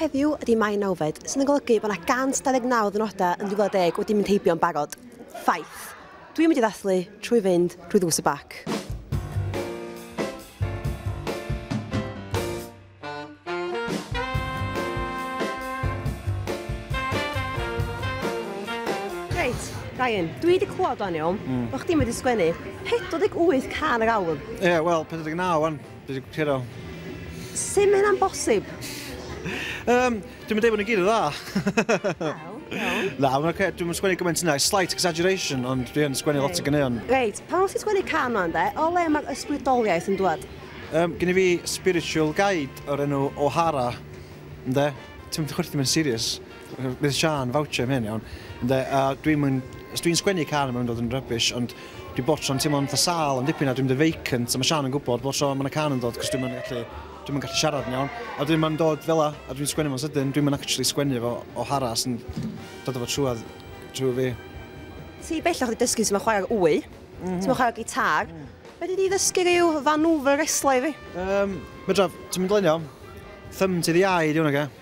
Heddiw ydy Mai nawfed, sydd yn golygu bod yna 129 ddynodau yn 2010 wedi mynd heibio yn barod. Ffaith. Dwi'n mynd i ddathlu trwy fynd drwy ddrws y bac. Ryan, dwi wedi clywed o'n iawn, mm. bod chdi'n wedi sgwennu 48 can yr awr. Ie, yeah, wel, 49 o'n. Dwi wedi cyro. Sut mae hynna'n bosib? um, dwi'n mynd bod yn gyd o dda. Na, mae'n okay. dwi'n sgwennu gymaint yna, slight exaggeration, ond dwi'n sgwennu lot o gyneuon. Reit, pan o'n ti'n sgwennu can o'n de, o le mae'r ysbrydoliaeth yn dwad? Um, gen i fi spiritual guide o'r enw O'Hara, ynddo? Ti'n mynd i chwerthu mewn serious. Bydd Siân voucher am hyn iawn. Ynde, a dwi'm yn... Os dwi'n sgwennu can mae'n mynd fod yn rubbish ond dwi bob tro'n teimlo'n fatha sâl am dipyn a dwi'n mynd yn vacant a mae Siân yn gwybod bob tro mae 'na can yn dod cos dwi'm yn gallu... dwi'm yn gallu siarad yn iawn a wedyn mae'n dod fel 'na a dwi'n sgwennu fo'n sydyn dwi'm yn actually sgwennu fo o hara sy'n dod efo trwad trwy fi. Ti bellach wedi dysgu sut mae chwarae'r wy. Sut mae chwarae'r gitar. Fedri di ddysgu rhyw fanŵfl resla i fi? Yym, medra. Ti'n mynd leni o? Thumb to the eye 'di hwn ocê?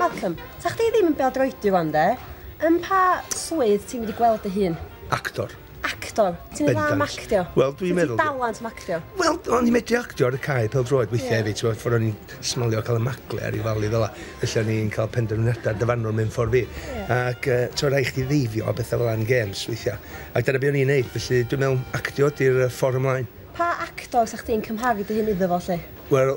Malcolm, ta chdi ddim yn bêl-droedi rwan de? Yn pa swydd ti'n mynd i gweld dy hun? Actor. Actor? Ti'n mynd dda am actio? Wel, dwi'n meddwl... Ti'n dalent am actio? Wel, o'n i'n medru actio ar y cae pel droed weithiau hefyd, ti'n ffordd o'n i'n smalio cael y magle ar ei falu fel la. Felly o'n i'n cael penderfyniadau dyfanol mewn ffordd fi. Ac uh, ti'n rhaid chdi ddeifio a bethau fel yn games weithiau. Ac dyna beth o'n i'n neud, felly dwi'n meddwl actio di'r ffordd ymlaen. Pa actor sa'ch ti'n cymharu dy hyn iddo fo, lle? Wel,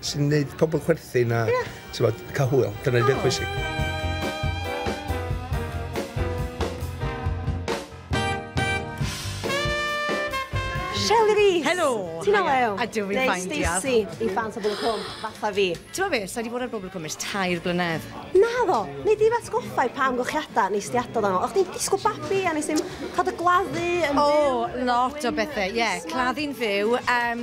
sy'n neud pobl chwerthin a yeah. bod, cael hwyl. Dyna oh. beth pwysig. Shelley Rees! Helo! Ti'n olew? A dwi fi'n ffain, diolch. Neu Stacey, i fans o Bobl Cwm, fatha fi. Ti'n meddwl beth, sa di bod ar Bobl Cwm ys tair blynedd? Na ddo, neu di fat goffau pam gochiadau nes di adod yno. O'ch ti'n disgo babi a nes i'n cod y gladdu yn fyw. O, lot o bethau, ie. Claddu'n fyw. Um,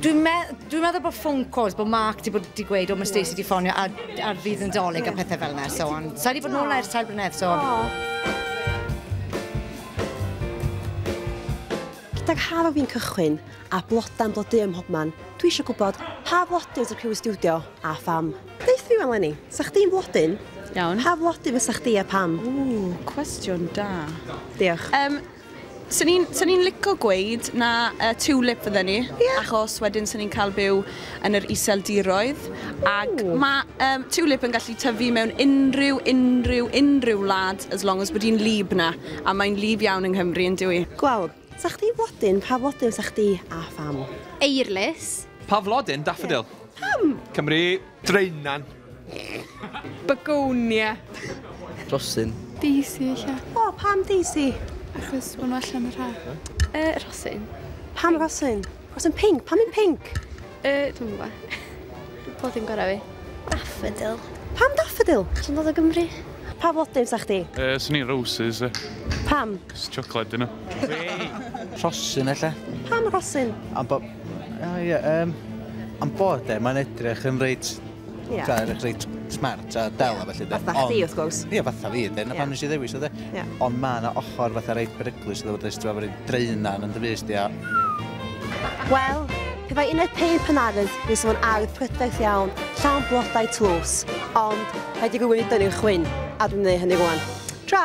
Dwi'n me dwi meddwl bod phone calls, bod Mark wedi bod wedi gweud, o mae Stacey wedi ffonio ar, ar fydd yn dolyg a pethau fel yna, so on. Sa wedi bod nôl ers tair blynedd, so on. Gydag haf a fi'n cychwyn, a blodau'n blodau ym mhobman, dwi eisiau gwybod pa flodyn sy'n criw y stiwdio a pham. Beth fi wan Lenny, sa chdi'n flodyn? Iawn. Pa flodyn fysa chdi a pam? Ww, cwestiwn da. Diolch. Um, Swn i'n, swn i'n lico gweud na uh, tulip fydden ni, yeah. achos wedyn swn i'n cael byw yn yr iseldiroedd, ac Ooh. mae um, tulip yn gallu tyfu mewn unrhyw, unrhyw, unrhyw wlad, as long as bod hi'n lib na, a mae'n lib iawn yng Nghymru yn dwi. Gwawr, sa chdi flodyn, pa flodyn sa chdi a pham? Eirlys. Pa flodyn? Daffodil. Yeah. Pam? Cymru. Draenan. Begonia. Rhosyn. Daisy ella. O, pam Daisy? Achos maen nhw allan yr haf. Uh, rhosyn. Pam rhosyn? Rhosyn pink. Pam yn pink? Uh, dwi'n gwybod. Bod ddim gorau fi. Daffodil. Pam daffodil? Dwi'n dod o Gymru. Pa flodyn sa chdi? Uh, Swn i'n roses. Pam? Jyst siocled dyn nhw. Rhosyn ella? Pam rhosyn? Am bod... O ie, yym... Am bod e, mae'n edrych yn reit... Ie. ...Fatha edrych reit smart a del a felly de. Fatha chdi wrth gwrs. Ie, fatha fi de, 'na pam nes i ddewis o de. Ie. Ond ma' 'na ochr fatha reit beryglus iddo fo does, t'mo' ma' rei draean yn dy fys di a... Wel, Pe bai uned peint Pen Ardd fysa fo'n ardd prydferth iawn, llawn blodau tlws, ond rhaid i rywun ei dynnu'r chwyn, a dwi'n ei hynny rwan. Tra!